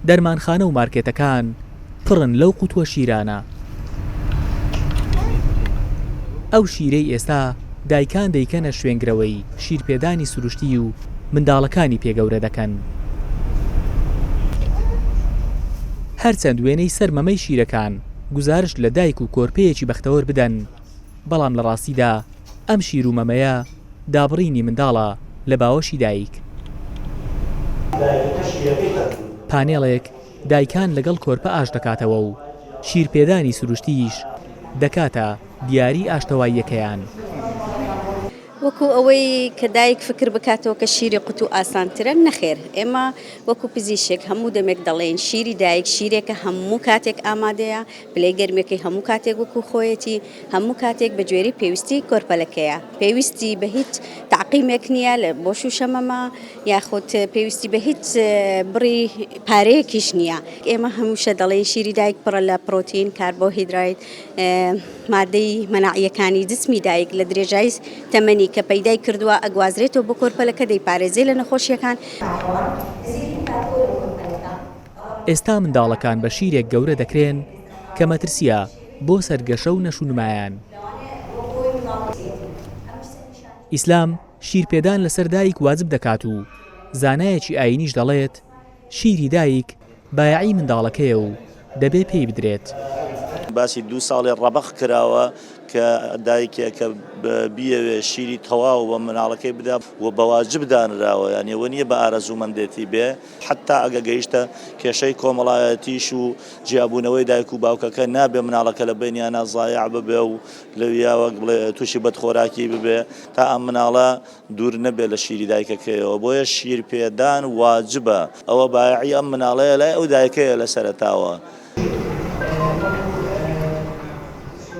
دەرمانخانە و مارکێتەکان پڕن لەو قوتوە شیرانە. ئەو شیرەی ئێستا دایکان دەیکەنە شوێنگرەوەی شیرپێدانی سروشتی و منداڵەکانی پێ گەورە دەکەن. هەرچەند وێنەی سەر مەمەی شیرەکان گوزارشت لە دایک و کۆرپەیەکی بەختەوەر بدەن، بەڵام لە ڕاستیدا ئەم شیر و مەمەیە، دابڕینی منداڵە لە باوەشی دایک. دایکەکە شیرەکەی خەرجوو. پانێڵێک دایکان لەگەڵ کۆرپە ئاش دەکاتەوە و شیرپێدانی سروشتیش دەکاتە دیاری ئاشتەواییەکەیان. وەکو ئەوەی کە دایک فکر بکاتەوە کە شیری قوتو ئاسانترە، نەخێر، ئێمە وەکو پزیشک هەموو دەمێک دەڵێین شیری دایک شیرێکە هەموو کاتێک ئامادەیە، پلەی گەرمیەکەی هەموو کاتێک وەکو خۆیەتی، هەموو کاتێک بە گوێرەی پێویستی کۆرپەلەکەیە، پێویستی بە هیچ تەعقیمێک نییە لە بۆ شووشە مەمە، یاخود پێویستی بە هیچ بڕی پارەیەکیش نییە. ئێمە هەمیشە دەڵێین شیری دایک پڕە لە پڕۆتین، کاربۆهیدرایت، مادەی مەناعییەکانی جسمی دایک لە درێژای تەمەنی کە پەیدای کردووە ئەگوازرێتەوە بۆ کۆرپەلەکە دەیپارێزێ لە نەخۆشییەکان. ئێستا منداڵەکان بە شیرێک گەورە دەکرێن کە مەترسییە. بۆ سەرگەشە و نەشونمایان. ئیسلام شیر پێدان لەسەر دایک واجب دەکات و زانایەکی ئاینیش دەڵێت شیری دایک بایەعی منداڵەکەیە و دەبێ پێی بدرێت. باسی دوو ساڵی ڕەبەق کراوە کە دایکێک کە بیەوێت شیری تەواو بە منداڵەکەی بدات و بەواجب دانراوە یانی ئەوە نیە بە ئارەزوومەندێتی بێ، حەتتا ئەگە گەیشتە کێشەی کۆمەڵایەتیش و جیابوونەوەی دایک و باوکەکە نابێ مناڵەکە لە بینیانە زایع ببێ و لەویا وەک بڵێ تووشی بەدخۆراکی ببێ تا ئەم مناڵە دوور نەبێ لە شیری دایکەکەیەوە بۆیە شیر پێدان واجبە ئەوە بایعی ئەم مناڵەیە لای ئەو دایکەیە لە سەرەتاوە.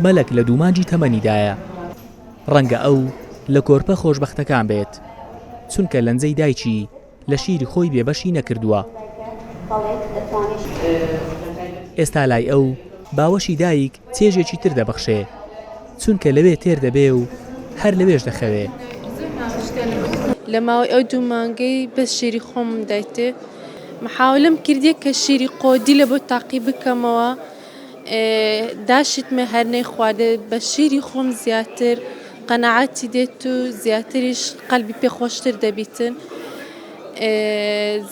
مەلەک لە دوو مانگی تەمەنیدایە ڕەنگە ئەو لە کۆرپە خۆشبەختەکان بێت چونکە لەنجەی دایکی، لە شیری خۆی بێ بەشی نەکردووە. ئێستا لای ئەو باوەشی دایک چێژێکی تر دەبەخشێ، چونکە لەوێ تێر دەبێ و هەر لەوێش دەخەوێ. لە ماوەی ئەو دوو مانگەی بەس شیری خۆمم دایتێ، محاولەم کردیە کە شیری قۆدیلە بۆ تاقی بکەمەوە. داشت مە هەر نەیخواردێ بە شیری خۆم زیاتر قەناعەتی دێت و زیاتریش قەلبی پێ خۆشتر دەبیتن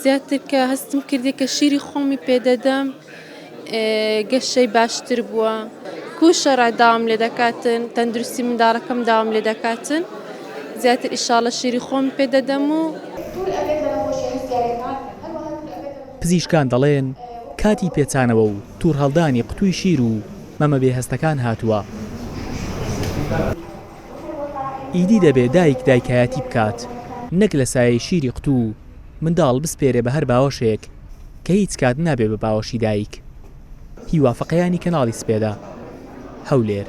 زیاتر کە هەستم کردی کە شیری خۆمی پێدەدەم گەشەی باشتر بووە کو شەڕع داوام لێ دەکاتن تەندروستی منداڵەکەم داوام لێ دەکاتن زیاتر ئیشاڵە شیری خۆم پێدەدەم و پزیشکان دەڵێن کاتی پێچانەوە و توورهەڵدانی قوتووی شیر و مەمە بێ هەستەکان هاتووە. ئیدی دەبێ دایک دایکایەتی بکات، نەک لە سایەی شیری قوتوو منداڵ بسپێرێ بە هەر باوەشێک کە هیچ کات نابێ بە باوەشی دایک. هیوا فەقێیانی کەناڵی سپێدە، هەولێر.